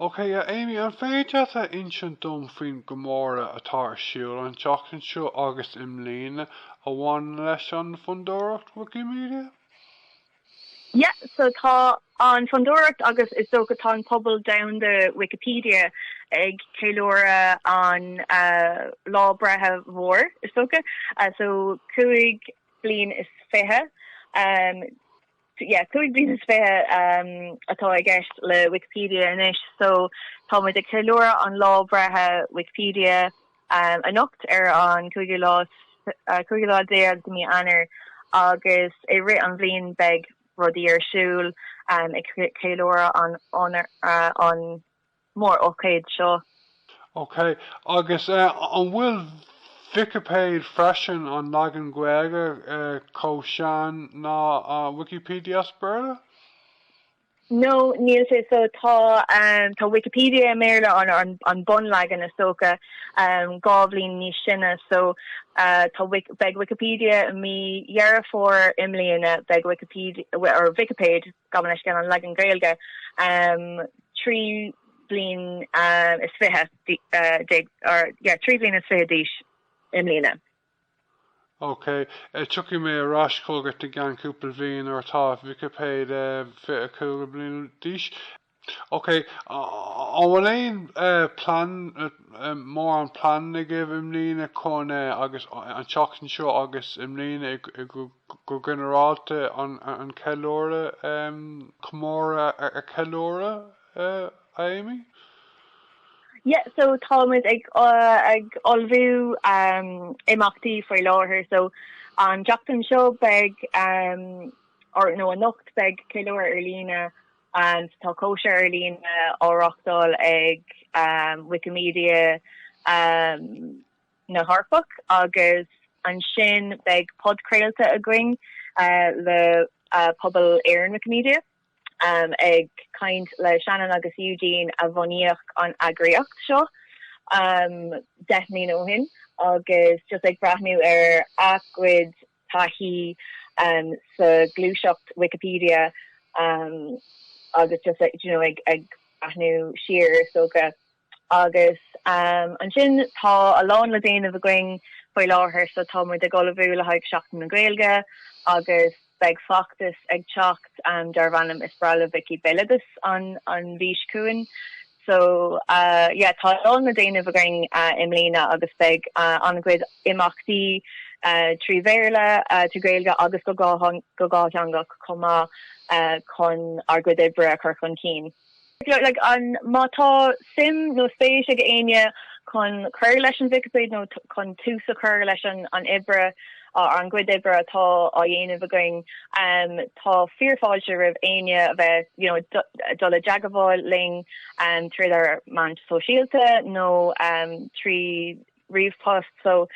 OK a Amy, an féidir leat a insint dom faoin gcomóradh atá ar siúl an tseachtain seo agus i mbliana a bhain leis an Fhondúireacht Wikimedia? Yeah, so tá an Fhondúireacht agus is dócha tá an pobal domhanda Wikipedia ag ceiliúradh an lá breithe mhór, is dócha, so cúig bliain is fiche. yeah, cúig bliain is fiche atá i gceist le Wikipedia anois, so tá muid ag ceiliúradh an lá breithe Wikipedia anocht ar an cúigiú lá cúigiú lá déag de mí Eanáir agus i rith an bhliain beidh rudaí ar siúl ag ceiliúradh an an mórócáid seo. Ok, agus an bhfuil Vicipéid freisin, an leagan Gaeilge, chomh sean ná Wikipedia as Béarla? No, níl sé. So tá tá Wikipedia i mBéarla, an an bunleagan is dócha, dhá bhliain níos sine. So tá beidh Wikipedia i mí Dheireadh Fómhair i mbliana, beidh Wikipedia, or Vicipéid, Gabh mo leithscéal an leagan Gaeilge, trí bliain is fiche déag, or yeah, trí bliain is fiche d'aois i mbliana. Ok, tiocfaidh mé ar ais chugat i gceann cúpla bhliain nuair atá Vicipéid 25 bliain d'aois. OK, an bhfuil aon plean, mórán plean agaibh i mbliana chun, agus an tseachtain seo agus i mbliana go ginearálta, an ceiliúradh, comóradh a cheiliúradh, a Amy? Yeah, so tá muid ag ag ullmhú imeachtaí faoi láthair, so an tseachtain seo beidh, or nó anocht beidh ceiliúradh ar líne, and Tá cóisir ar líne á reáchtáil ag Wikimedia na hEorpach agus ansin beidh podchraolta againn le Pobal Éireann Wikimedia ag caint le Shannon agus Eugene a bhunaíodh an eagraíocht seo deich mbliana ó shin agus just ag breathnú ar a gcuid taithí sa ghluaiseacht Wikipedia agus just ag breathnú siar is dócha agus ansin tá a lán le déanamh againn faoi láthair so tá muid ag ullmhú le haghaidh Seachtain na Gaeilge agus beidh feachtas ag teacht darbh ainm Is Breá le Vicí Béaloideas an mhí seo chugainn So, yeah, tá a lán le déanamh againn i mbliana agus beidh an-chuid imeachtaí trí Bhéarla, trí Ghaeilge agus go dhátheangach chomh maith chun ár gcuid oibre a chur chun cinn. Like, an, má tá suim nó spéis ag éinne chun cur leis an Vicipéid nó chun tús a chur leis an obair, Ár gcuid oibre atá á dhéanamh againn, tá fíor fáilte roimh éinne a bheith, you know, dul i dteagmháil linn trí ár meáin sóisialta nó trí ríomhphost. So,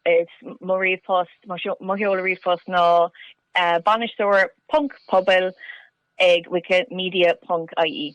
is mo ríomhphost, mo sheoladh ríomhphost ná bainisteoir ponc pobail ag wikimedia ponc ie.